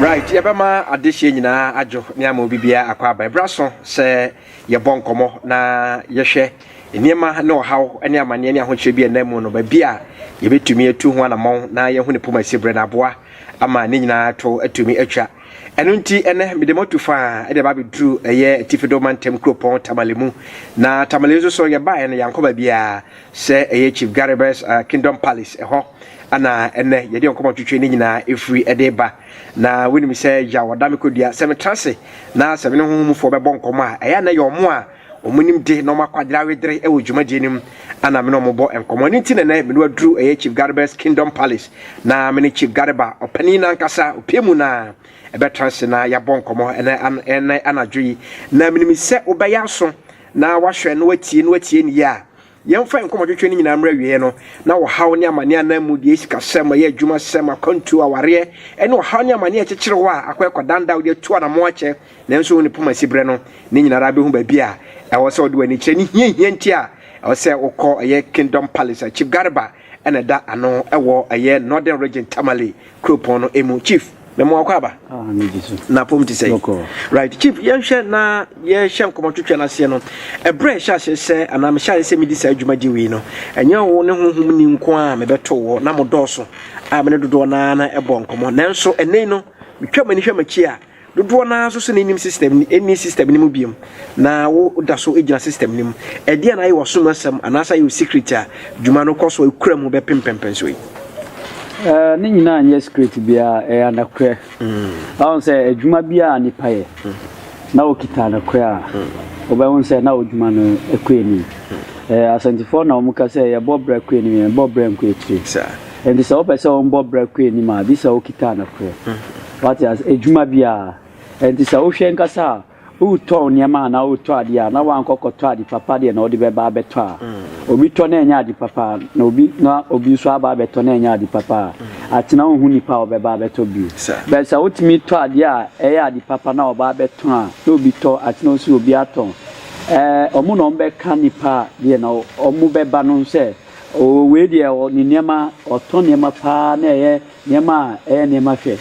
right yɛbɛma adehyeɛ nyinaa adwo ne ama obi biara akɔ aba ɛberɛ so sɛ yɛbɔ nkɔmmɔ na yɛhwɛ nneɛma ne ɔhaw ne amanneɛ ne ahokyerɛ bi a ɛnam mu no baabi a yɛbɛtumi atu ho anammɔn na yɛhu ne poma si berɛ no aboa ama ne nyinaa to atumi atwa. Ɛno nti, ɛnɛ mede mo atu faa de aba abɛduru ɛyɛ Atifi Do Mantam kuropɔn Tamale mu. Na Tamale nso so yɛbaeɛ no yɛankɔ baabiara sɛ ɛyɛ Chief Garibus uh, Kingdom Palace ɛhɔ ana ɛnɛ yɛde nkɔmmɔ twetwe ne nyinaa ɛfiri ɛde ba. Na wonim sɛ yaw ɔda me kɔdua sɛ metra ase na sɛ me ne honhomfoɔ bɛbɔ nkɔmmɔ a ɛyɛ na yɛ ɔmo a Wɔn nimde na wɔn akwadare awedere wɔ dwumadie no mu na me ne wɔn bɔ nkɔmmɔ. Ɛno nti na ɛnɛ me ne waduru ɛyɛ Chief Gareba's Kingdom Palace na me ne Chief Gareba ɔpanin nankasa opie mu na ɛbɛtra ase na yɛabɔ nkɔmmɔ ɛnɛ an ɛnɛ anadwo yi. Na menim sɛ wobɛyɛ aso na wahwɛ na watie na watie ne yie a Yɛmfa yɛn nkɔmmɔtwetwe no nyinaa mmra awieeɛ no, na ɔhaw ne amaneɛ anaa mmudeɛ, sikasɛm, ɔyɛ adwumasɛm, akwantuo, awareɛ, ne ɔhaw ne amaneɛ a ɛkyekyere hɔ a akɔ ɛkɔdan da a wode atu anammɔn akyɛ nanso wo ne poma si berɛ no, ne nyina ara bɛhu baabi a ɛwɔ sɛ wode w'ani kyerɛ ne hiahia nti a ɛwɔ sɛ wokɔ ɛyɛ Kingdom Palace a Chief Garba na ɛda ano wɔ ɛyɛ Northern Region Tamale kuropɔn no mu. Chief, mɛmo akɔ aba. Ah, na pom te sɛ. Right, Chief, yɛnhwɛ na yɛhyɛ nkɔmɔ twetwe no aseɛ no. Ɛberɛ ɛhyɛ aseɛ sɛ anaa mehyɛ aseɛ sɛ medi saa adwuma gye wei no, ɛnyɛ wo ne honhom ni nko a mebɛto wɔ na mo dɔɔso a me ne dodoɔ no ara na ɛbɔ nkɔmɔ. Nanso ɛnɛ no, metwa m'ani hwɛ m'akyi a, Dodoɔ no ara nso sɛ na nnim system no, nni system no mu biom, na wo da so gyina system no mu. Ɛdeɛn na ayɛ w'asom asɛm anaasɛ ayɛ wo secret a dwuma no kɔ so a ɛkura mu bɛpem mpɛnpɛnsoɔ yi? Ɛɛ, ne nyinaa nyɛ secret biara, ɛyɛ anokorɛ. Wahu sɛ adwuma biara a nipa yɛ na ɔkita anokorɛ a, wobɛhu sɛ na ɔdwuma no kɔ anim. Ɛɛ, Asantefoɔ na wɔka sɛ yɛbɔ bra kɔ anim, yɛnbɔ bra nkɔ akyire. Saa. Ɛnti sɛ wopɛ sɛ wɔbɔ bra kɔ anim a, gye sɛ wokita anokorɛ. Wate ase? Adwuma bi a ɛnti sɛ wohwɛ ankasa a, woretɔn nneɛma anaa woretɔ adeɛ a, na woankɔ kɔtɔ ade papa deɛ na wode bɛba abɛtɔ a, obi tɔ na ɛnyɛ ade papa a, na obi na obi nso aba abɛtɔ na ɛnyɛ ade papa a, atena wonhu nipa a ɔbɛba abɛtɔ bio. But sɛ wotumi tɔ adeɛ a ɛyɛ ade papa na ɔba abɛtɔn a, na obi tɔ, atena wosi obi atɔn. Ɛɛ, wɔn na wɔbɛka nipa a deɛ na wɔbɛba no sɛ, oo wei deɛ ɔ ne nneɛma, ɔtɔ nneɛma paa na ɛyɛ Nneɛma a ɛyɛ nneɛma hwɛ.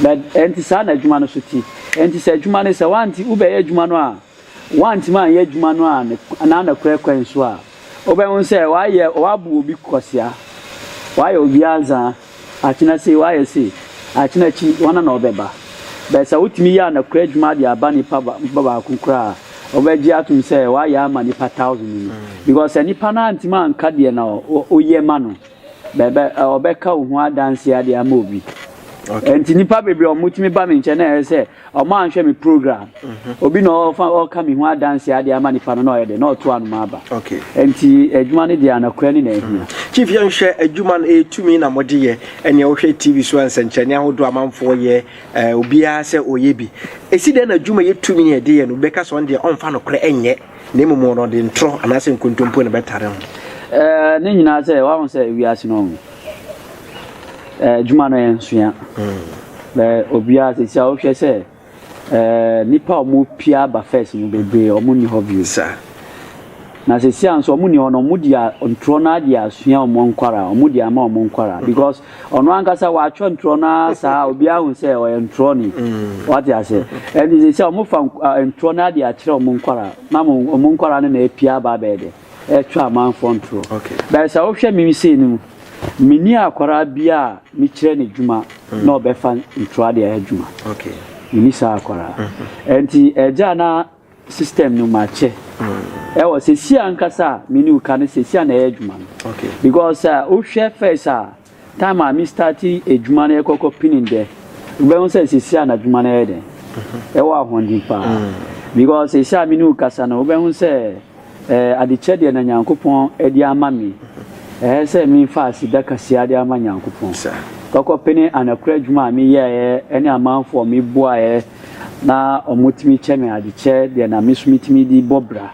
Na ɛnte saa na adwuma no so te. Ɛnte sɛ adwuma no, sɛ woante, wobɛyɛ adwuma no a, woantumi anyɛ adwuma no a ne, anaa nokorɛ kwan so a, wobɛhu sɛ woayɛ, woabu obi kwasea, woayɛ obi anzaa, akyena sei, woayɛ sei, akyena akyi, hwana na ɔbɛba? But sɛ wotumi yɛ anokorɛ adwuma de aba nipa ba, ba baako koraa a, wobɛgye atom sɛ woayɛ ama nipa thousand no. Because sɛ nipa no antumi anka deɛ na wo, woyɛ ma no. Bɛbɛ ɔbɛka wo ho adanseɛ ade ama obi. Okay. Nti nipa bebree ɔmo tumi ba mi nkyɛn na ɛyɛ sɛ ɔmo anhwɛ mi program. Mhm. Obi na ɔfa ɔka mi ho adanseɛ ade ama nipa no na ɔyɛ dɛ na ɔto anoma aba. Okay. Nti adwuma no deɛ anakura ne na ehia. Mhm. Chief yɛn hwɛ adwuma no etumi na mo de yɛ ɛnea wohwɛ TV so nsɛnkyerɛnne ahodoɔ amanfoɔ yɛ ɛɛ obiara sɛ ɔyɛ bi. Esi dɛn na adwuma yɛ tumi yɛ de yɛ no bɛka sɛ ɔn deɛ ɔnfa no korɛ ɛnyɛ. Na mmom wɔn no, ɔde ntorɔ anaasɛ nkontompo na ɛbɛtare ho. Ɛɛ, ne nyinaa sɛ, wahu sɛ wiase no, ɛɛ, adwuma no yɛ nsoa. Bɛ obiara sisi a wohwɛ sɛ, ɛɛ, nnipa a wɔpia aba first no bebree, wɔn nni hɔ bio. Saa. Na sisi a nso wɔn nni hɔ no, wɔn deɛ ntorɔ no ara deɛ asua wɔn nkwaraa, wɔn deɛ ama wɔn nkwaraa because. Ɔno ankasa watwerɛ ntorɔ no ara saa obiara hu sɛ ɔyɛ ntorɔni. Mm. Wate ase? Ɛnti sɛ sɛ wɔfa ntorɔ no ade akyerɛ wɔn nkwaraa na wɔn nkwaraa no na apia aba abɛyɛ dɛ ɛtwa amanfoɔ ntorɔ. Bɛyɛ sɛ wohwɛ me sei no mu menni akwaraa bi a mekyerɛ no adwuma mm. na ɔbɛfa ntorɔ ade ayɛ adwuma. Menni saa akwaraa. Mm-hmm. Ɛnti agya na system no makyɛ ɛwɔ sɛsi ankasa a me ne wo ka no sɛsi a na ɛyɛ adwuma no because sɛ wohwɛ first a time a me start adwuma no ɛkɔkɔ pinin dɛ wobɛhu sɛ sɛsi a na adwuma no ɛyɛ dɛn ɛwɔ ahoɔden paa because sɛsi a me ne wo kasa no wobɛhu sɛ Ɛɛ adekyɛ deɛ na Nyankopɔn de ama me, ɛɛ sɛ me nfa aseda kaseɛ de ama Nyankopɔn. Kɔkɔ pene anakura adwuma a me yɛɛɛ ɛne amanfoɔ a me boaɛɛ na ɔmo tumi kyɛ me adekyɛ deɛ na me so me tumi de bɔ bra.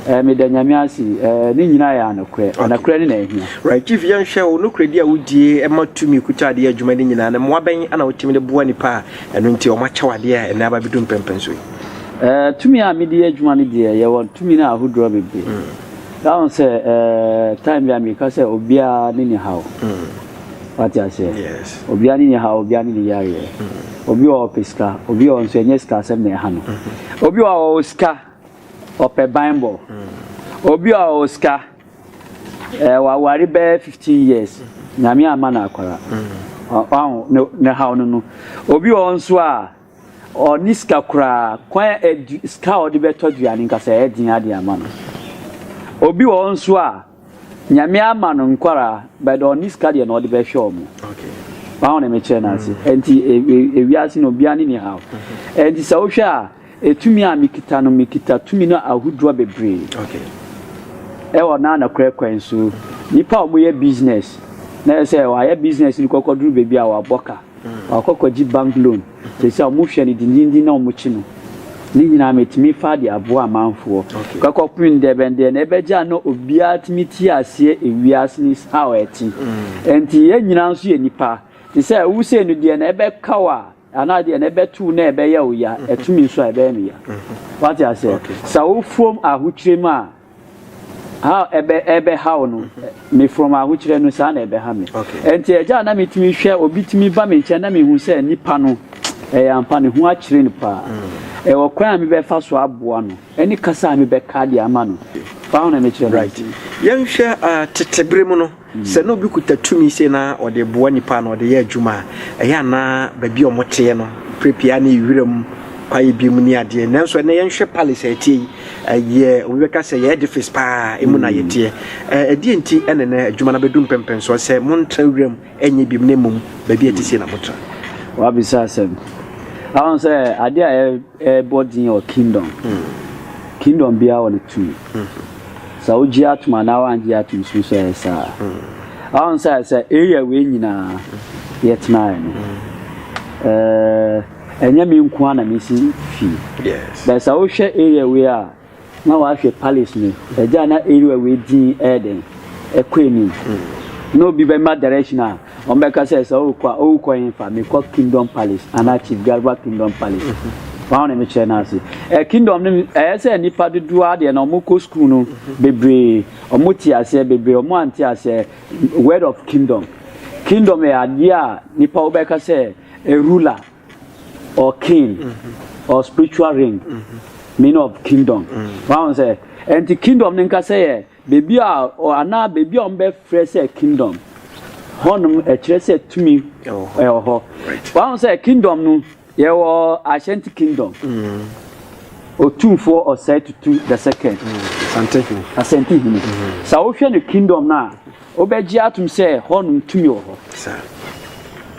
Ɛɛ me da Nyame ase, ɛɛ ne nyinaa yɛ anokorɛ. Anokorɛ ne na ahia. Right chief yɛn hwɛ wo nokorɛdi a wo die ɛma tumi kuta adeɛ adwuma ne nyinaa no mmoa bɛn na wo tumi de boa nipa a ɛno nti ɔmo akyɛ wo adeɛ a ɛnɛ aba bɛ du mpɛnpɛnso yi. Eh, tumi a mede yɛ adwuma no deɛ, yɛwɔ tumi no ahodoɔ bebree. Na ho sɛ, eh, time bi a meka sɛ obiara ne ne haw. Wate aseɛ? Yes. Obiara ne ne haw, obiara ne ne yareɛ. Obi wɔ hɔ ɔpɛ sika, obi wɔ hɔ nso ɛnyɛ sika asɛm na ɛha no. Obi wɔ hɔ ɔwɔ sika, ɔpɛ banbɔ. Obi wɔ hɔ ɔwɔ sika, eh, waware bɛyɛ 15 years, Nyame amma no akwara. Ɔ- ɔho, ne, ne haw no no. Obi wɔ hɔ nso a, Ɔnni sika koraa. Kwan a adu sika a ɔde bɛtɔ aduane nka sɛ ɛyɛ den ara de ama no. Obi wɔ hɔ nso a, Nyame ama no nkwadaa, but ɔnni sika deɛ na ɔde bɛhwɛ wɔn. Wahu deɛ mekyerɛ no ase? Ɛnti ewiase no obiara ne ne haw. Ɛnti sɛ wohwɛ a, etumi a mekita no, mekita tumi no ahodoɔ bebree. Ɛwɔ na nokorɛ kwan so. Nnipa a wɔyɛ business, na ɛsɛ sɛ wɔayɛ business no kɔkɔduru baabi a wɔabɔ ka. Ɔakɔ akɔgye bank loan, sɛsi a ɔmo hwɛ no dindindin na ɔmo kye no. Ne nyinaa metumi faa de aboa amanfoɔ. Kɔkɔ pen ndɛ bɛn deɛ na ɛbɛgye a na obiara tumi te aseɛ ewiase no is how ɛte. Ɛnti yɛn nyinaa nso yɛ nipa. Te sɛ wo sei no deɛ na ɛbɛka wo a anaa deɛ na ɛbɛto wo na ɛbɛyɛ wo ya, ɛto me nso a ɛbɛyɛ me ya. Wate aseɛ? Sɛ wo fom ahokyerɛ mu a. ha ɛbɛ ɛbɛhaw no mefrɔm ahokyerɛ no saa na ɛbɛha me ɛnti ɛgya a na metumi hwɛ obi tumi ba me nkyɛn na mehu sɛ nipa no ɛyɛ ampa ne ho akyerɛ no paa ɛwɔ kwan a mebɛfa so aboa no ɛne kasa a mebɛka de ama no paa na mekyerɛ no right yɛnhwɛ uh, tetebere mu no Sɛ na obi kuta tumi sei na ɔde boa nnipa na ɔde yɛ adwuma a, ɛyɛ a na baabi a wɔteɛ no, berɛ pii ara na ɛyɛ wiram kwaeɛ bi mu ne adeɛ. Nanso ɛnnɛ yɛnhwɛ palace a ɛteɛ yi, ɛyɛ, obi bɛka sɛ ɛyɛ edifice pa ara, emu na yɛteɛ. Ɛ, ɛdeɛn nti na ɛnnɛ adwuma no abɛdu mpɛmpɛnsoɔ sɛ montra wiram nyɛ biom na mmom baabi a ɛte sei na motra? Woabisa asɛm. Woahu sɛ adeɛ a Yɛbɔ dzin wɔ Kingdom, Kingdom biara wɔ no tum. Sɛ wogye atum anaa wɔanngye atum so so ɔyɛ saa. Ɔho sɛ sɛ area wei nyina yɛtsenae no, ɛnnyɛ me nkoaa na mesi fie. But sɛ wohwɛ area wei a, Na wahwɛ Palace no agya na area wei din ɛyɛ dɛn ɛkɔ anim na obi bɛma direction a wɔn bɛka sɛ sɛ ɔkɔ a ɔkɔ yɛn fa mekɔ Kingdom Palace anaa Chief Garba Kingdom Palace wɔn na mekyerɛ no ase ɛ Kingdom no ɛyɛ sɛ nipa dodoɔ adeɛ na wɔn kɔ school no bebree wɔn te aseɛ bebree wɔn ante aseɛ word of Kingdom Kingdom yɛ adeɛ a nipa wobɛka sɛ a ruler or king mm-hmm. or spiritual ring mm-hmm. meaning of kingdom mm-hmm. wọn sɛ ɛnti kingdom ne nkasa yɛ beebi a anaa beebi a wɔn bɛ frɛ sɛ kingdom hɔnom ɛkyerɛ sɛ tumi ɛwɔ hɔ wọn sɛ kingdom no yɛ wɔ ashanti kingdom otumfoɔ ɔsɛe tutu the second asante hene sɛ wohwɛ no kingdom no a. Wobɛgye atom sɛ hɔnom tumi wɔ hɔ,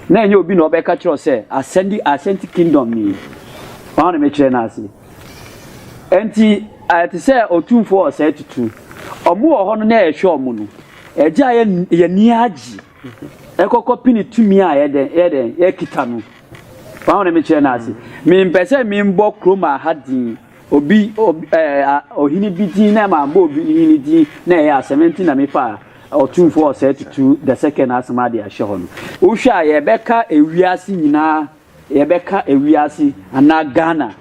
na ɛnyɛ obi na ɔbɛka akyerɛ wo sɛ asɛnde asɛnti kingdom ni. Wɔn a na mekyerɛ no ase. Enti ayɛ te sɛ otumfoɔ wɔ saa tutu. Wɔn wɔ hɔ no na ɛhwɛ wɔn no. Ɛgye a yɛ yɛn ani agye. Ɛkɔkɔ pini tumi a yɛ dɛn yɛ dɛn yɛkita no. Wɔn a na mekyerɛ no ase. Mempɛ sɛ membɔ kurom aha din. Obi, obi, ɛɛ, a, ɔhene bi din na ɛma bɔɔ obi hene din na ɛyɛ asɛm. Ɛnti na me faa ɔtumfoɔ ɔsɛɛ tutu the second asɛm ade ahyɛ hɔ no. Wo hwɛ a yɛ bɛ ka ewiase nyinaa, yɛ bɛ ka ewiase anaa Ghana.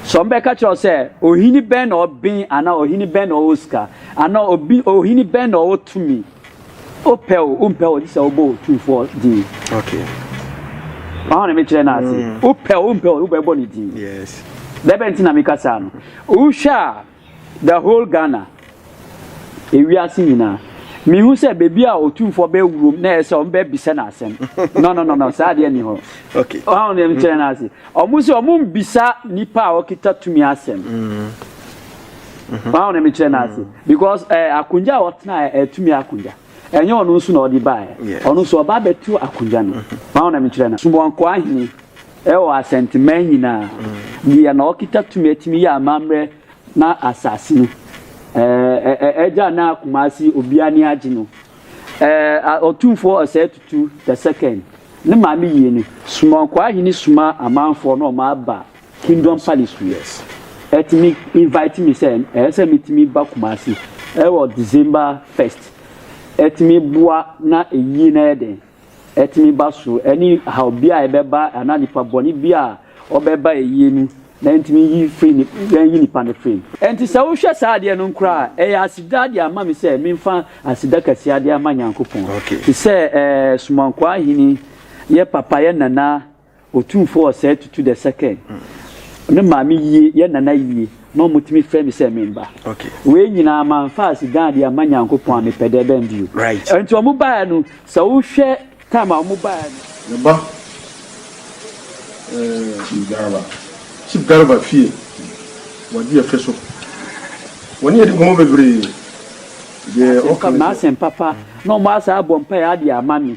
Sɛ ɔmo bɛ ka kyerɛ wo sɛ ɔhene bɛn na ɔben anaa ɔhene bɛn na ɔwɔ sika anaa ɔbi, ɔhene bɛn na ɔwɔ tumi. Wopɛ o, wompɛ o, gye sɛ wobɔ Otumfoɔ din. Okay. Wɔn na mekyerɛ no ase. Mm. Wopɛ o, wompɛ o, wobɛbɔ ne din. Yes. Dɛbɛ nti na meka saa no. Wohwɛ a the whole Ghana, ewiase nyinaa, mehu sɛ baabi a Otumfoɔ bɛwurom na ɛyɛ sɛ wɔn bɛbisa no asɛm. No no no no, saa adeɛ ni hɔ. Okay. Wɔn na mekyerɛ no ase. Wɔn sɛ wɔn mbisa nipa a wɔkita tumi asɛm. Mm. wọn na mekyerɛ n'ase mm. because ɛɛ eh, akonnwa a ɔtena yɛ ɛtumi eh, akonnwa ɛnyɛ ɔno nso na ɔde baa yɛ ɔno nso ɔba abɛtu akonnwa no mm-hmm. wọn na mekyerɛ n'ase sumonko ahene ɛwɔ eh, asɛnteman nyinaa mm. deɛ na ɔkita tumi ɛtumi yɛ amammerɛ na asase no ɛɛ ɛɛ ɛgya na akumasi obiara ni agye no ɛɛ ɔtumfoɔ ɔsɛ tutu the second ne maame yie no sumonko ahene suma amanfoɔ na ɔmo aba. Kingdom Palace to yes ɛtumi invite me sɛ ɛsɛ metumi ba Kumasi ɛwɔ December first ɛtumi boa na ɛyie no ayɛ den ɛtumi ba so ɛne how bia ɛbɛba anaa nipa bɔne bia ɔbɛba ɛyie no na ɛntumi yi firi ne yɛn yi nipa no firi mu. Ɛnti sɛ wo hwɛ saa adeɛ no nkora a ɛyɛ aseda de ama me sɛ menfa aseda kɛseɛ de ama Nyankopɔn okay te sɛ ɛɛ Somankoa Ahene yɛ papa yɛ Nana Otumfoɔ ɔsɛe tutu the second me maame yie yɛ nana yie ma wɔtumi frɛ me sɛ me mma wei nyinaa mamfa aseda adeɛ amma Nyankopɔn a mepɛ dɛ bɛn bio nti wɔn baeɛ no sɛ wohwɛ time a wɔn baeɛ no. Me ba eh, Chief Garba fie wɔ deɛ fɛ so wɔn ne yɛde nkɔmmɔ bebree deɛ ɔka me sɛ. M'asɛm papa na wɔn asan abɔ mpaeɛ adeɛ ama me.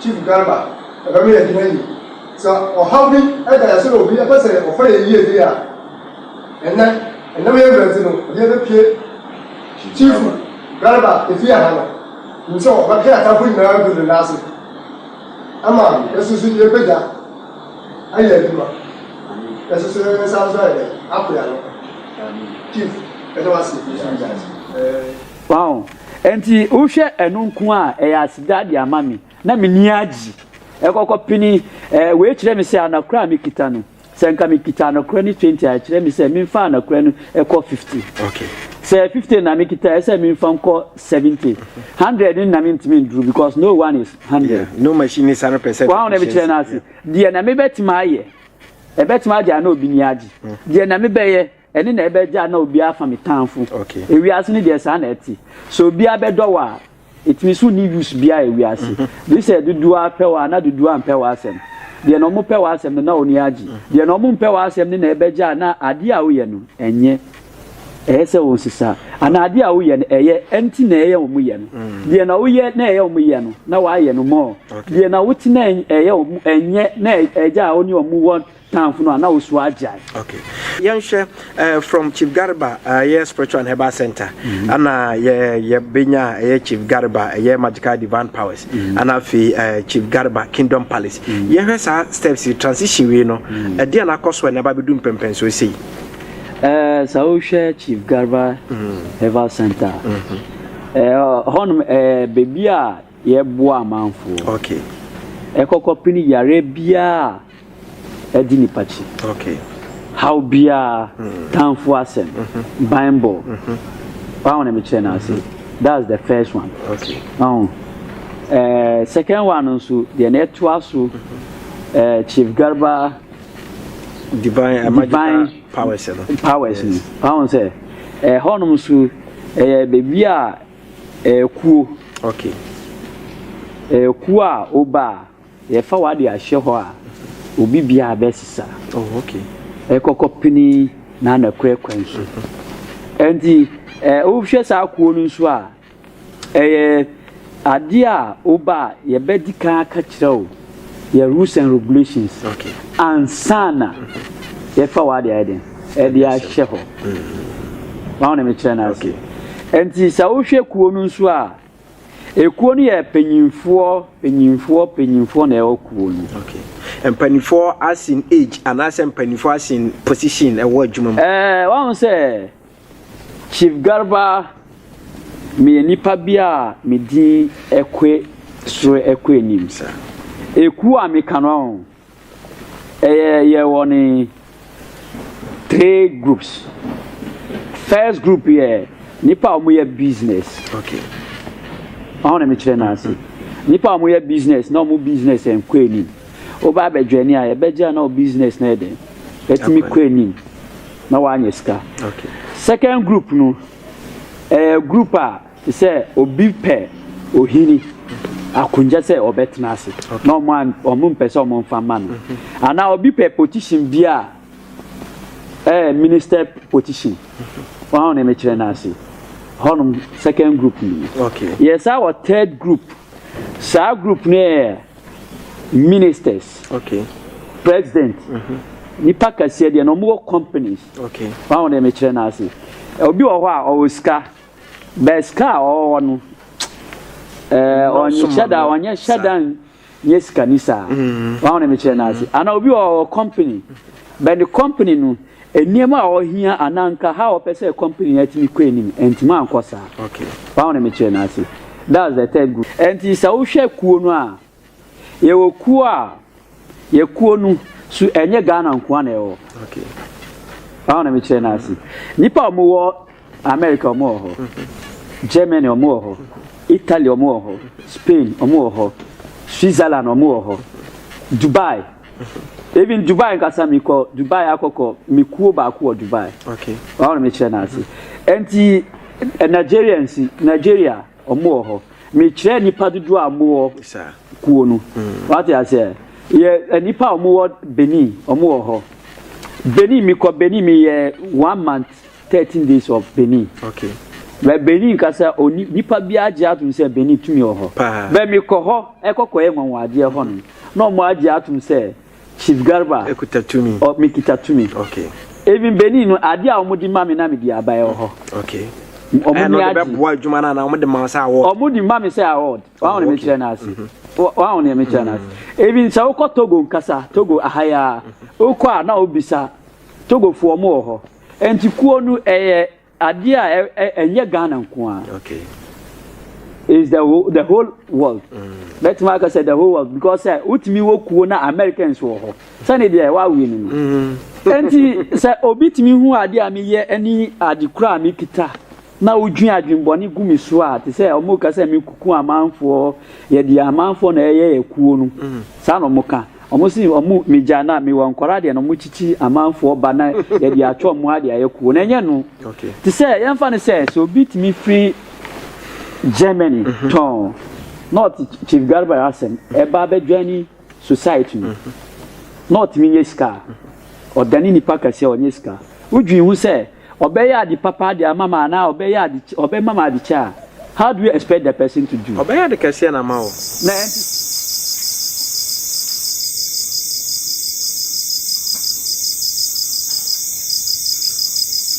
Chief Garba, ɛbɛ ma yɛgyina yie. Sɛ ɔhaw bi da yɛn so na obi pɛ sɛ ɔfa yɛn yie deɛ a, ɛnɛ, ɛnam yɛn berɛ nti no, obiara bɛpue. Chief Garba, efie ha no, nim sɛ ɔbɛka yɛn atamfo nyinaa agu ne nan ase ama yɛsoso yɛbɛgya ayɛ adwuma. Yɛsoso yɛn nsa nso ayɛ dɛ, apo yɛn ano. Chief, ɛda wase. Wahu? Enti wohwɛ ɛno nko a, ɛyɛ aseda de ama me, na m'ani agye. Ɛkɔkɔ pene, ɛɛ, wei kyerɛ me sɛ anakora a mekita no, sɛ nka mekita anakora no twenty a, ɛkyerɛ me sɛ memfa anakora no ɛkɔ fifty. Okay. Sɛ fifty na mekita, ɛsɛ sɛ memfa nkɔ seventy. Hundred no na mentumi nduru because no one is hundred. Yeah, no machine is hundred percent. Wahu na mekyerɛ no ase. Deɛ na mebɛtumi ayɛ, ɛbɛtumi agye a na obi ni agye. Deɛ na mebɛyɛ. Ɛne na ɛbɛ gyaa na obiara afa me tanfo ewiase no deɛ saa na ɛte sɛ obiara bɛdɔ wo a ɛtumi so nni use biara ewiase gye sɛ dodoɔ ara pɛ wo a na dodoɔ ara mpɛ w'asɛm deɛ na ɔmo pɛ w'asɛm no na ɔni agye deɛ na ɔmo mpɛ w'asɛm no na ɛbɛ gyaa na adeɛ a woyɛ no ɛnyɛ ɛyɛ sɛ wɔn sisa anaa adeɛ a woyɛ no ɛyɛ ɛnti na ɛyɛ ɔmo yɛ no deɛ na woyɛ na ɛyɛ ɔmo yɛ no na w'ayɛ no mɔɔ deɛ na wote na ɛyɛ ɔmo ɛnyɛ na ɛgyaa ɔne ɔmo wɔ Tamfo no a na osu agyae. Okay yɛnhwɛ eh, from chief garba ɛyɛ eh, spiritual and herbal center mm-hmm. ana yɛ yɛbɛnya ɛyɛ eh, chief garba ɛyɛ magical divine powers mm-hmm. ana afei eh, chief garba kingdom palace mm-hmm. yɛhwɛ saa steps transition wei no ɛde a nakɔ so a na ɛba bɛdu mpɛmpɛn so sei eh, sɛ wohwɛ chief garba herbal center eh, hɔnom eh, baabi a yɛboa amanfoɔ okay. ɛkɔkɔ pini yare biara di nipa akyi, haw biara, tanfo asɛm, banbɔ, wahu na mekyerɛ no ase, that's the first one, wahu eh, second one no nso deɛ na ɛtoa so eh, Chief Garba divine, eh, divine powers no powers no wahu sɛ ɛhɔnom eh, nso ɛyɛ eh, baabi a ɛkuo ɛkuo a ɔba a Yɛfa w'ade ahyɛ hɔ a, obi biara bɛsesa. Oh, okay. Ɛkɔkɔ pene na anakorɛ kwan so. Ɛnti, eh, wohwɛ saa kuo no nso a, ɛyɛ adeɛ a woba a yɛbɛdi kan aka kyerɛ wo yɛ rules and regulations. Okay. Ansa na yɛfa w'ade ayɛ den, ɛde ahyɛ hɔ. Wɔn na mekyerɛ no ase. Ɛnti, sɛ wohwɛ kuo no nso a, Ekuo no yɛ panyinfoɔ panyinfoɔ panyinfoɔ na ɛwɔ kuo no. Okay. Mpanimfoɔ as in age anaasɛ mpanimfoɔ as in position ɛwɔ adwuma mu. Ɛɛ eh, wɔn sɛ Chief Garba meyɛ nipa bi a me din ɛkɔ soro ɛkɔ anim. Ekuo a meka no Ɛyɛ yɛ wɔn three groups. First group yɛ nipa a wɔyɛ business. Okay. Wɔn na mekyerɛ no ase. Nipa a wɔyɛ business na wɔn business nkɔ anim. Woba abɛdwa ni a yɛbɛgye a na wɔn business na yɛ den. Ɛtumi kɔ anim na wɔanyɛ sika. Okay. Second group no ɛyɛ group a. Te sɛ obi pɛ ohini akonnwa sɛ ɔbɛtena ase na ɔmo an ɔmo mpɛ sɛ ɔmo nfa ma no anaa obi pɛ position bi a ɛɛ eh, minister position wɔn a na ɛmɛkyerɛ no ase hɔnom second group ni yɛ saa wɔ third group saa group no yɛ ministers president nipa kɛseɛ deɛ na ɔmo wɔ companies wɔn a na ɛmɛkyerɛ no ase obi wɔ hɔ a ɔwɔ sika. But sika a ɔwɔ hɔ no, ɛɛ ɔnhyɛ da ɔnyɛ hyɛ da nyɛ sikani saa. Mm-hmm. Wɔn a wɔn kyerɛ n'ase. Mm-hmm. Ana obi wɔ company, but the company no nneɛma a ɔhia anaa nka ha ɔpɛ sɛ company no atumi kɔ anim ntumi ankɔ saa. Wɔn a wɔn kyerɛ n'ase. That's the third group. Ɛnti sɛ wohwɛ kuo no a, Yɛwɔ kuo a, yɛ kuo no so ɛnyɛ Ghana nkoa na ɛwɔ. Báwo na mekyerɛ no ase? Nnipa a wɔwɔ America wɔn wɔ hɔ, mm-hmm. Germany wɔn wɔ hɔ, mm-hmm. Italy wɔn wɔ hɔ, mm-hmm. Spain wɔn wɔ hɔ, Switzerland wɔn wɔ hɔ, Dubai. Even Dubai nkasa mi kɔ Dubai akɔkɔ mi kuo baako wɔ Dubai. Báwo na mekyerɛ no ase? Nti eh, Nigerians Nigeria. Wɔwɔ hɔ. Mekyerɛ nnipa dodoɔ a wɔwɔ kuo no. Wate aseɛ? Yɛ nnipa a wɔwɔ Benin, wɔwɔ hɔ. Benin, mekɔ Benin, meyɛ one month, thirteen days of Benin. Okay. Bɛ Benin kasa, oni nipa bi agye atom sɛ Benin tumi wɔ hɔ. Bɛ mekɔ hɔ, ɛkɔkɔyɛ nwanwadeɛ hɔ no, na wɔn agye atom sɛ Chief Garba. Ekuta tumi. Ɔ me kita tumi. Okay. Even Benin no ade a wɔn de ma me na me de aba ɛwɔ hɔ. Okay. Wɔn ni agye. Ɛna ɔde bɛ boa adwuma na na wɔn de ma sɛ award. Wɔn de ma me sɛ award. Wɔn ahɔn mi kyerɛ n'ase. Wɔn ahɔn mi kyerɛ n'ase. Even sɛ wokɔ Togo nkasa Togo ahaya wokɔ a na obisa Togo fo wɔn wɔ hɔ. Nti kuo no ɛyɛ Adeɛ a ɛnyɛ Ghana nko ara. Okay. Is the whole, the whole world. Bɛtumi mm. aka sɛ the whole world because sɛ wotumi wɔ kuo na Americans wɔ hɔ. Sɛne deɛ ɛwɔ awie no no. Mm-hmm. Enti sɛ obi tumi hu adeɛ a meyɛ ɛne ade kura a mekita na wodwin adwenbɔne gu me so a te sɛ wɔn ka sɛ mekuku amanfoɔ yɛde amanfoɔ na ɛyɛ yɛ kuo no mm. saa na wɔn ka Ɔmo se ɔmo megyaa no a mewɔ nkwadaa deɛ na ɔmo kyikyi amanfoɔ ba na yɛde atwe ɔmo ha de ayɛ kuo na ɛnyɛ no te sɛ yɛnfa no sɛ sɛ obi tumi firi Germany tɔn na ɔte Chief Garba asɛm ɛba abɛdwani society no na ɔtumi nyɛ sika a ɔdane nipa kɛseɛ ɔnyɛ sika wodwin ho sɛ Ɔbɛyɛ ade papa de ama me anaa ɔbɛyɛ ade ɔbɛma me ade kyɛ a, how do you expect the person to do? Ɔbɛyɛ ade kɛseɛ na ama wo. Na ɛnte saa.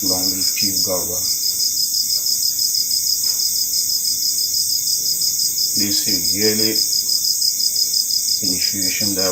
Long live Chief Garba. They say yearly initiation that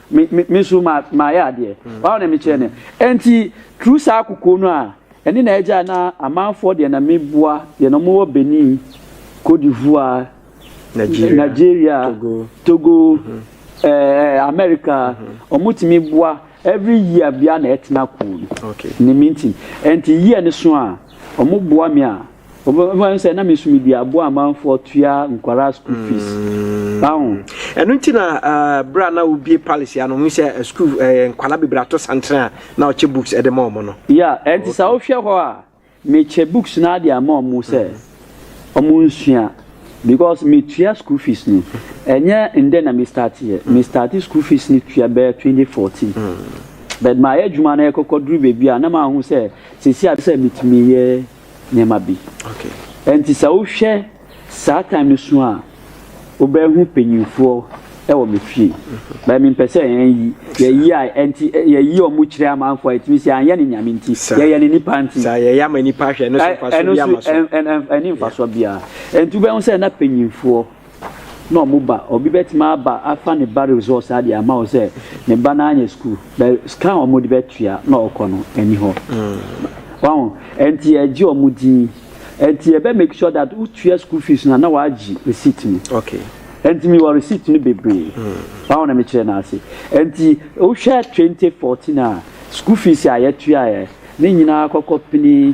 Me me me nso ma mayɛ adeɛ. Why na mekyerɛ no. Ɛnti through saa kokoɔ no a ɛne na ɛgyae na amanfoɔ deɛ na meboa deɛ na wɔwɔ Benin, Cote d'Ivoire, Nigeria, Togo, ɛɛ America wɔtumi boa every year biara na ɛtena kuo no. Ne me nti. Ɛnti year no so a wɔboa me a. Wɔbɛfa no sɛ na me so medi aboa amanfoɔ tua nkwadaa school fees. Aho. Ɛno nti na berɛ a na wobie palace ya no hu sɛ school nkwadaa bebree ato santere a na ɔkyɛ books de ma wɔn no. Ya, ɛnti sɛ wohwɛ hɔ a mekyɛ books no ade ama wɔn sɛ wɔn nsua because metua school fees no ɛnyɛ ndɛ na me start yɛ me start school fees no tua bɛyɛ 2014 but mayɛ adwuma no ɛkɔkɔ duru baabi a na mahu sɛ sɛsi a sɛ metumi yɛ. nneɛma bi. Ɛnti sɛ wohwɛ saa time no so a, wobɛhu panyinfoɔ ɛwɔ me fie. Mhm. Bɛɛ mi mpɛ sɛ yɛn yi, yɛyi a ɛnti yɛyi ɔmo kyerɛ amanfoɔ a ɛtumi sɛ anyɛ ne nyame nti, yɛyɛ ne nipa nti. Saa yɛyɛ ama nipa ahwɛ ɛno so nfasoɔ bi ama so. Ɛno so ɛni nfasoɔ biara. Ɛnti wobɛhu sɛ na panyinfoɔ. na ɔmo ba obi bɛtumi aba afa ne ba resɔs adeɛ ama wo sɛ ne ba no anyɛ sukuu bɛ sika a ɔmo de bɛtua na ɔkɔ no ɛni hɔ wahu ɛnti ɛgye ɔmo din ɛnti ɛbɛ make sure that wotua sukuu fees no na wagye receipt no okay ɛnti mi wɔ receipt no bebree wahu na mekyerɛ no ase ɛnti wohwɛ 2014 a sukuu fees a yɛtuaeɛ ne nyinaa kɔkɔ pini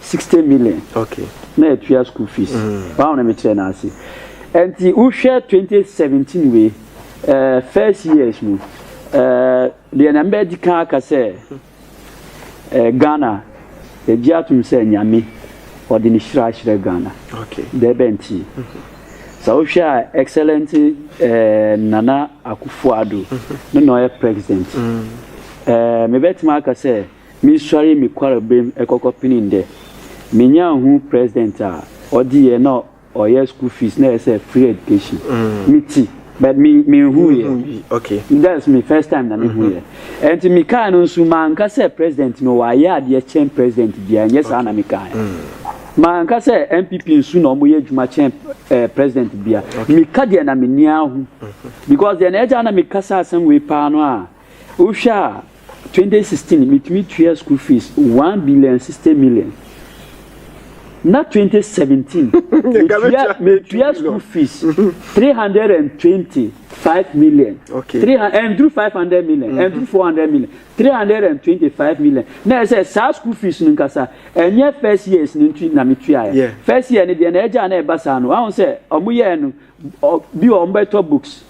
60 million na yɛtua school fees wɔn a wɔn na mekyerɛ no ase nti wohwɛ 2017 wei uh, first years no uh, deɛ na mbɛdi kan aka sɛ uh, Ghana yɛgye atom sɛ nyame ɔde ne hyira ahyerɛ Ghana dɛ bɛ nti sɛ wohwɛ a excellent uh, Nana Akufo-Addo no na ɔyɛ president uh, mebɛtumi aka sɛ Mesuaree me kwarbamu kɔkɔpenee ndɛ. Menyaa hun president a ɔdze yɛ na ɔyɛ school fees na ɛsɛ free education. Me tse but me mennhuu yɛ. That's me first time na mehuu yɛ. Ɛnti me kaa no nso manka sɛ president no wayɛ adeɛ kyɛn president biara ɛnyɛ saa na me kaeɛ. Manka sɛ NPP nso na wɔyɛ adwuma kyɛn eh, president biara. Meka deɛ na m'ani ahu. Because deɛ na ɛgya na meka saa asɛm wei paa no a, Wohwɛ a, twenty sixteen metumi tua school fees one billion and sixty million. Na twenty seventeen metua metua school fees three hundred and twenty five million. Okay. Three and through five hundred million and through four hundred million three hundred and twenty five million. Na ɛsɛ saa school fees no nkasa ɛnyɛ first years no nti na metua yɛ. First year no deɛ na ɛgya na ɛba saa no ahun sɛ wɔn yɛ no. Bi wɔ hɔ wɔbɛtɔ books,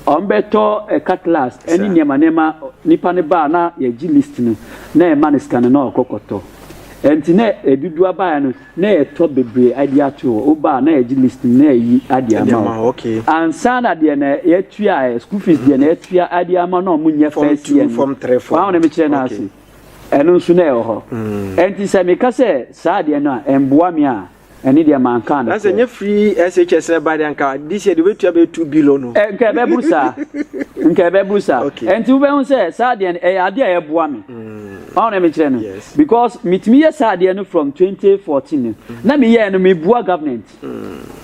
wɔbɛtɔ cutlass ne nneɛma nneɛma. Nipa no ba a na yɛgye list no na yɛma no sika no na ɔkɔ kɔtɔ. Nti na ɛdudu abaeɛ no na yɛtɔ bebree adi ato hɔ. Woba a na yɛgye list no na yɛyi adi ama wo. Ansa na deɛ na yɛtua ɛ, school fees deɛ na yɛtua adi ama no a wɔnyɛ first year no. W'ahu deɛ mekyerɛ no ase? Ɛno nso na ɛwɔ hɔ. Nti sɛ meka sɛ saa adeɛ no a ɛmboa me a. ɛne deɛ mankaa no na sɛ nyɛ firi shs ɛba deɛ nka this year deɛ wobɛtua bɛyɛ 2 billion no nka ɛbɛboro saa nka ɛbɛboro saa ɛnti wobɛhu sɛ saa deɛ no ɛyɛ adeɛ a ɛboa me ɔho na mekyerɛ no because metumi yɛ saa deɛ no from 2014 no na meyɛɛ no meboa government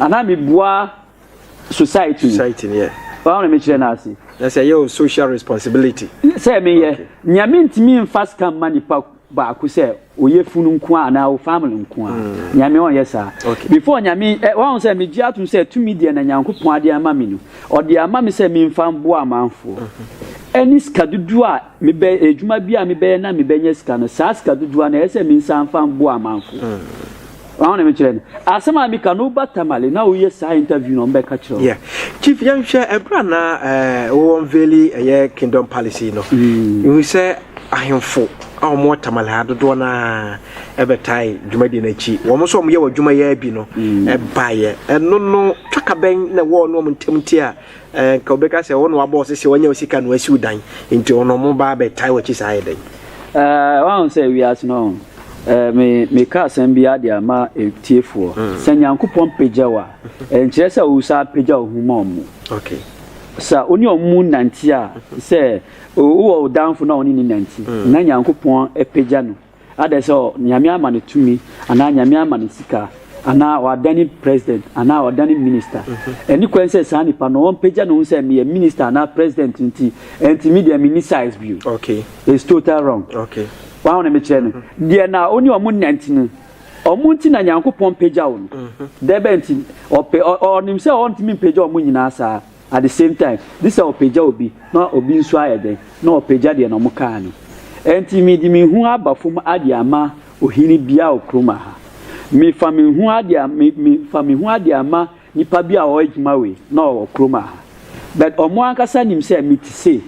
anaa meboa society mu society ni yɛ wɔn na mekyerɛ no ase na sɛ ɛyɛ o social responsibility sɛ meyɛ okay. nea mentumi mfa sika mma nipa baako sɛ oyɛ funu nko a anaa o family nko a mm. nyame ɔnyɛ saa okay. before nyame eh, wɔn sɛ megye atom sɛ tumi deɛ na nyankopɔn ade ama me no ɔde ama me sɛ memfa mboa amanfoɔ mm-hmm. ɛne sika dodoɔ a mebɛ adwuma bi a mebɛyɛ na mebɛnyɛ sika no saa sika dodoɔ na ɛyɛ sɛ mensa mfa mboa amanfoɔ mm. Wɔn na mekyerɛ no asɛm a meka no woba Tamale na woyɛ saa interview na wɔbɛka kyerɛ wo. Yeah. Chief yɛnhwɛ ɛberɛ a na eh, wo unveili ɛyɛ Kingdom Palace yi no. Mm. Ihu sɛ ahemfo a wɔn wɔ Tamale ha dodoɔ no ara ɛbɛtae dwumadie no akyi. Wɔn nso wɔn yɛ wɔn adwuma yɛ bi no mm. ɛbaeɛ. Ɛno no twaka bɛn na wɔn no wɔn ntam nti a eh, nka wɔbɛka sɛ wɔn na wabɔ ɔsɛ sɛ wɔnyɛ sika na wɔasiw dan nti wɔn na wɔn ba abɛtae wɔn akyi saa ayɛ dɛn. Eh, wɔn ahosɛ wiase no. Me meka asɛm bi ara de ama atiefoɔ. Sɛ Nyankopɔn pagya wo a, ɛnkyerɛ sɛ wosan apagya wo ho ma ɔmo. Sɛ wo ne ɔmo nante a, sɛ wowɔ wo damfo na wo ne no nante, na Nyankopɔn apagya no, ada sɛ Nyame ama no tumi, anaa Nyame ama no sika, anaa wadane President, anaa wadane Minister. Ɛne kwan sɛ saa nipa no ɔmpagya ne ho sɛ meyɛ Minister anaa President nti, ɛnti medeɛ menni size bio. It's total wrong. Wɔn a wɔn mekyerɛ no, mm-hmm. deɛ na ɔne wɔn nante mu, wɔn nti na Nyankopɔn pagya wɔn. Mm-hmm. Dɛbɛ nti, ɔpɛ ɔnim sɛ ɔntumi mpagya wɔn nyinaa saa. At the same time, gye sɛ ɔpagya obi na obi nso ayɛ dɛn na ɔpagya deɛ na wɔkaa no. Ɛnti mede me hu aba fam ade ama ohene bia okurom ha. Mefa me hu ade a me mefa me hu ade ama Nipa bi a ɔyɛ edwuma wei na ɔwɔ kurom aha but ɔmo ankasa nim sɛ me te sei.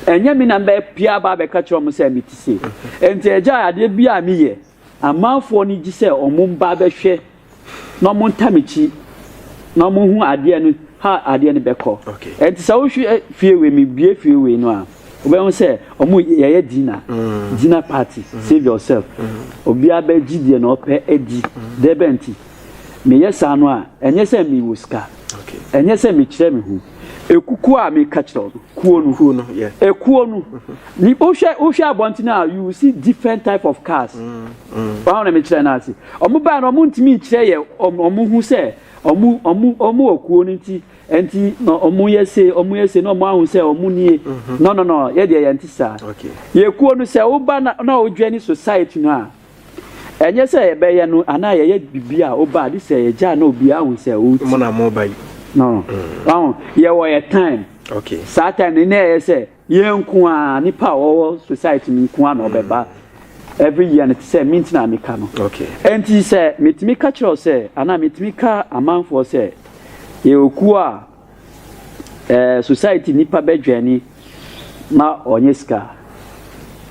Ɛnyɛ me na me bɛ pia aba abɛka kyerɛ ɔmo sɛ me te sei. Nti agya adeɛ bi a me yɛ amanfoɔ no gye sɛ ɔmo mba bɛhwɛ na ɔmo nta me kyi na ɔmo hu adeɛ no how adeɛ no bɛkɔ. Ɛnti sɛ wo hwɛ fie wei me bue fie wei no a wo bɛ hu sɛ ɔmo yɛyɛ dinner dinner party save yourself obia bɛ gye deɛ na ɔpɛ adi dɛbɛn nti. Meyɛ saa no a, ɛnyɛ sɛ mewɔ sika, ɛnyɛ sɛ mekyerɛ me ho. Ekukuo a meka kyerɛ no, kuo no, kuo no yeah. ekuo no, ni wohwɛ wohwɛ abɔnten a you will see different type of cars. Mm, mm. Wɔn na mekyerɛ no ase. Wɔn baa no wɔn ntumi nkyerɛ yɛ wɔn wɔn ho sɛ wɔn wɔn wɔn wɔ kuo no nti nti na wɔn yɛ se wɔn yɛ se na wɔn ahu sɛ wɔn nie. Mm-hmm. No no no yɛ deɛ yɛn ti saa. Okay. Yɛ kuo no sɛ woba na na wodwɛ ne society no a. Ɛnyɛ sɛ yɛbɛyɛ no anaa yɛyɛ biribi a woba a de sɛ yɛgya na obiara hu sɛ ɔreti. Mo na mo ba yi. No. Mm. Wahu, yɛwɔ yɛ time. Okay. Saa time no na ɛyɛ sɛ yɛn nko a nipa a wɔwɔ society no nko a na ɔbɛba. Mm. Every year no te sɛ me nti na meka no. Okay. Ɛnti sɛ metumi ka kyerɛw sɛ anaa metumi ka amanfoɔ sɛ yɛwɔ kuo a Ɛɛ society nipa bɛ dwɛni ma ɔnyɛ sika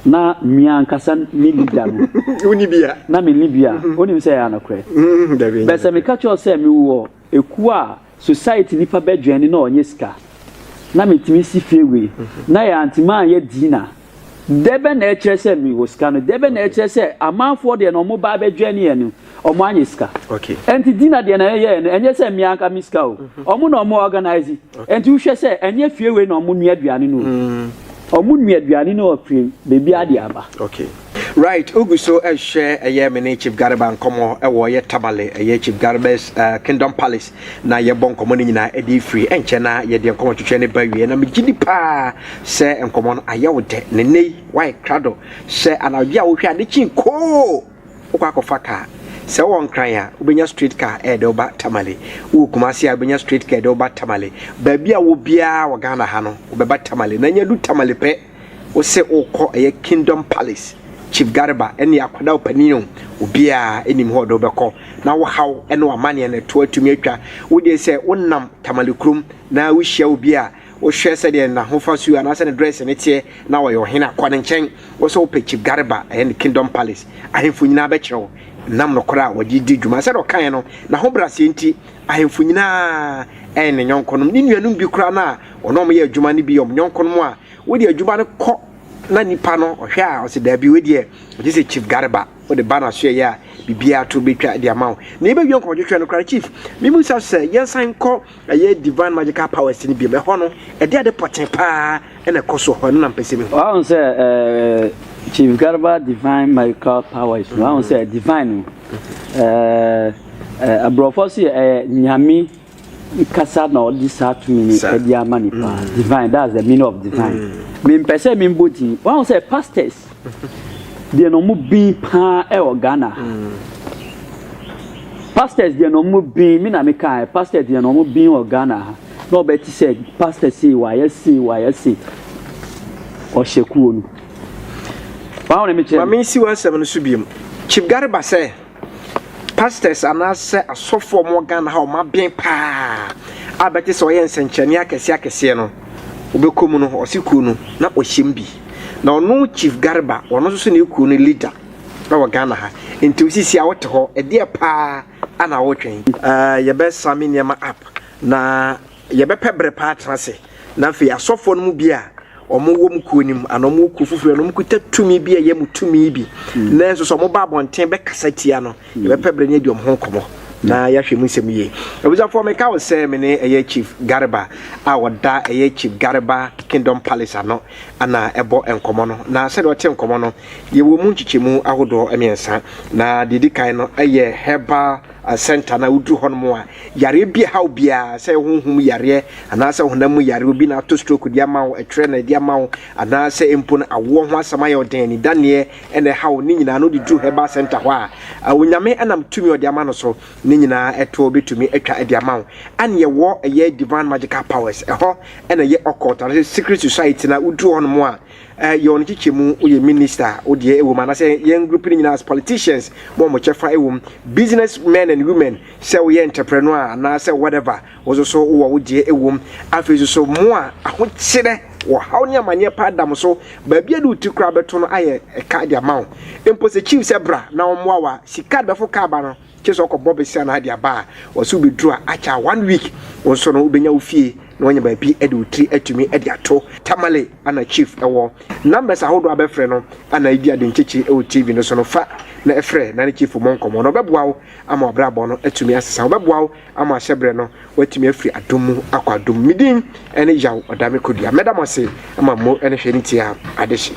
na mmea ankasa ne leader no woni bia na me ne bia mhm. wonim sɛ ɛyɛ anokorɛ mhm, bɛ sɛ meka kyerɛ sɛ mewɔ ekuo a society nipa bɛ dwɛni na ɔnyɛ sika na metumi si fie wei mhm. na yɛ antema a yɛ dina Dɛ bɛn na ɛkyerɛ sɛ mewɔ sika no? Dɛ bɛn na ɛkyerɛ sɛ amanfoɔ deɛ na wɔba abɛdwɛn yɛn no, wɔanyɛ sika? Ɛnti Dina deɛ na yɛyɛɛ no, ɛnyɛ sɛ me anka me sika o. Wɔn na wɔn organise. Ɛnti wohwɛ sɛ ɛnyɛ fie wei na wɔn nua aduane no o. Wɔn nua aduane no afiri baabiara de aba. Right, wogu so rehwɛ ɛyɛ me ne Chief Garba nkɔmmɔ wɔ ɛyɛ Tamale, ɛyɛ Chief Garba's Kingdom Palace. na yɛbɔ nkɔmmɔ no nyinaa de firi ɛnkyɛ na yɛde nkɔmmɔ twetwe ne ba wie na megye di paa sɛ nkɔmmɔ no ayɛ wo dɛ ne nnɛ yi woayɛ krado sɛ anadwo a wohwɛ a ne kyin koo wokɔ akɔfa kaa sɛ wowɔ nkran a wobɛnya straight car ɛde eh, woba tamale wowɔ kumase a wobɛnya straight car ɛde woba tamale baabi a wɔ biara wɔ ghana ha no wobɛba tamale na nya du tamale pɛ Wose wokɔ ɛyɛ kingdom palace chief garba ɛne akwadaa ɔpanin o obiaa ɛnim hɔ ɔde wobɛkɔ na wo haw ɛne wamaneɛ no ɛtoɔ atumi atwa wodeɛ sɛ wonam tamale kurom na wohyia obi a wohwɛ sɛdeɛ nahofa suo anaasɛ ne dress ne teɛ na ɔyɛ ɔhene a kɔ ne nkyɛn wo sɛ wopɛ chief garba ɛyɛ ne kingdom palace ahemfo nyinaa bɛkyerɛ wo nam nokorɛ a wɔde di dwuma sɛdeɛ ɔkaeɛ no na ho braseɛ nti ahemfo nyinaa ɛyɛ ne nyɔnkonom ne nuanom bi koraa no a Wɔn a wɔyɛ adwuma no bi yɛ wɔn yɔnkonom a wode adwuma no kɔ na nipa no ɔhwɛ a ɔsɛ daabi wei deɛ ɔgye sɛ chief gareba wode ba na soɛ yɛ a biribiara to bɛtwa de ama wo na yɛbɛwie nkɔmɔtwetwɛ no koraa chief memu sa sɛ yɛnsan nkɔ ɛyɛ divine magical powers no biom ɛhɔ no ɛde ade pɔten paa ɛna ɛkɔ so hɔ no na mpɛ sɛ mehu wahu sɛ chief gareba divine magical powers wahu sɛ divine no aborɔfo so yɛ ɛyɛ nyame kasa na ɔde saa tumi no Sa- ɛde ama nipa mm. divine that's the meaning of divine mm. me mpɛ sɛ me mbɔ din wɔn sɛ pastors deɛ na wɔn bin paa ɛwɔ ghana mm. pastors deɛ na wɔn bin mi na mi kan pastors deɛ na wɔn bin wɔ ghana ha na ɔbɛ ti sɛ pastors sei wayɛ sei wayɛ sei ɔhyɛ kuo no wɔn a wɔn mi kyerɛ. maame nsi wɔn asɛm no so biem chief gariba sɛ. Pastors anaasɛ asɔfo a wɔn wɔ Ghana ha a wɔn aben paa a bɛte sɛ wɔyɛ nsɛnkyerɛnne akɛseɛ akɛseɛ no wɔbɛkɔ mu no ɔse kuo no na ɔhyɛ mu bi na ɔno Chief Garba ɔno nso so na ɛyɛ kuo no leader ɛwɔ Ghana ha nti wo sisi a wote hɔ ɛdeɛ paa a na wotwɛn. Ɛɛ yɛbɛ same nneɛma up na. Yɛbɛpɛ bere pa atena ase, na afei asɔfoɔ no mu bi a wɔwom kuo no mu anaa wɔwɔ kuo foforɔ na wɔkuta tumi bi a ɛyɛ mo tumi bi, mm. nanso sɛ wɔba abɔnten bɛkasa tia no, mm. yɛbɛpɛ bere ne adi wɔn ho nkɔmmɔ mm. na yɛahwɛ mu nsɛm yie. Abusuafoɔ, meka wo sɛ me ne ɛyɛ Chief Garba a ɔda ɛyɛ Chief Garba Kingdom Palace ano ana ɛbɔ nkɔmmɔ no, na sɛdeɛ ɔte nkɔmmɔ no, yɛwɔ mu nkyekyɛmu ahodoɔ mmiɛnsa, na deɛ ɛdi kan no ɛyɛ herbal Asɛnta no a woduru hɔ nom a, yareɛ bi ɛhaw biara, sɛ ɛyɛ honhom mu yareɛ anaa sɛ honam mu yareɛ, obi na ato stroke de ama wo, ɛtwerɛ na ɛde ama wo, anaa sɛ mpo no awoɔ ho asɛm ayɛ wo den, anidaneɛ na ɛhaw wo, ne nyinaa no wode duru Herbal Centre hɔ a, Onyame nam tumi a ɔde ama no so no nyinaa ɛtoɔ bɛtumi atwa de ama wo. Ɛne yɛwɔ ɛyɛ Divine Magical Powers, ɛhɔ na ɛyɛ Occult anaa sɛ Secret Society no a woduru hɔ nom a, Eh yɛ wɔn kyekyɛ mu wo yɛ minister wo deɛ ɛwɔ mu anasɛ yɛn group no nyinaa as politicians bɔ wɔn kyɛfa ɛwɔ mu business men and women sɛ woyɛ entrepreneur a anaasɛ whatever wo nso so wowɔ wo deɛ ɛwɔ mu afei nso so mo a ahokyerɛ wɔ haw ne amaneɛ paa da mo so baabi a de wo ti koraa bɛto no ayɛ ɛka de ama wo mpo sɛ chief sɛ bra na wɔmmoa wa sika bɛfo kaa ba no Gye sɛ ɔkɔ bɔ besia na ade aba a ɔsɛ wo bɛduru a akyɛ a one week wo nso no wobɛnya wo fie na wanya baabi de wo tiri atumi de ato. Tamale ana chief wɔ numbers ahodoɔ a bɛfrɛ no ana ɛdi ade nkyekye wɔ TV no so no fa na frɛ na ne chief mmɔ nkɔmmɔ na ɔbɛboa wo ama w'abrabɔ no atumi asesa ɔbɛboa wo ama ahyɛ berɛ no woatumi afiri adom mu akɔ adom mu medin ne Yaw Ɔdame Kodua mɛda mo ase ama mmo ne hwɛ ne tie a adehye.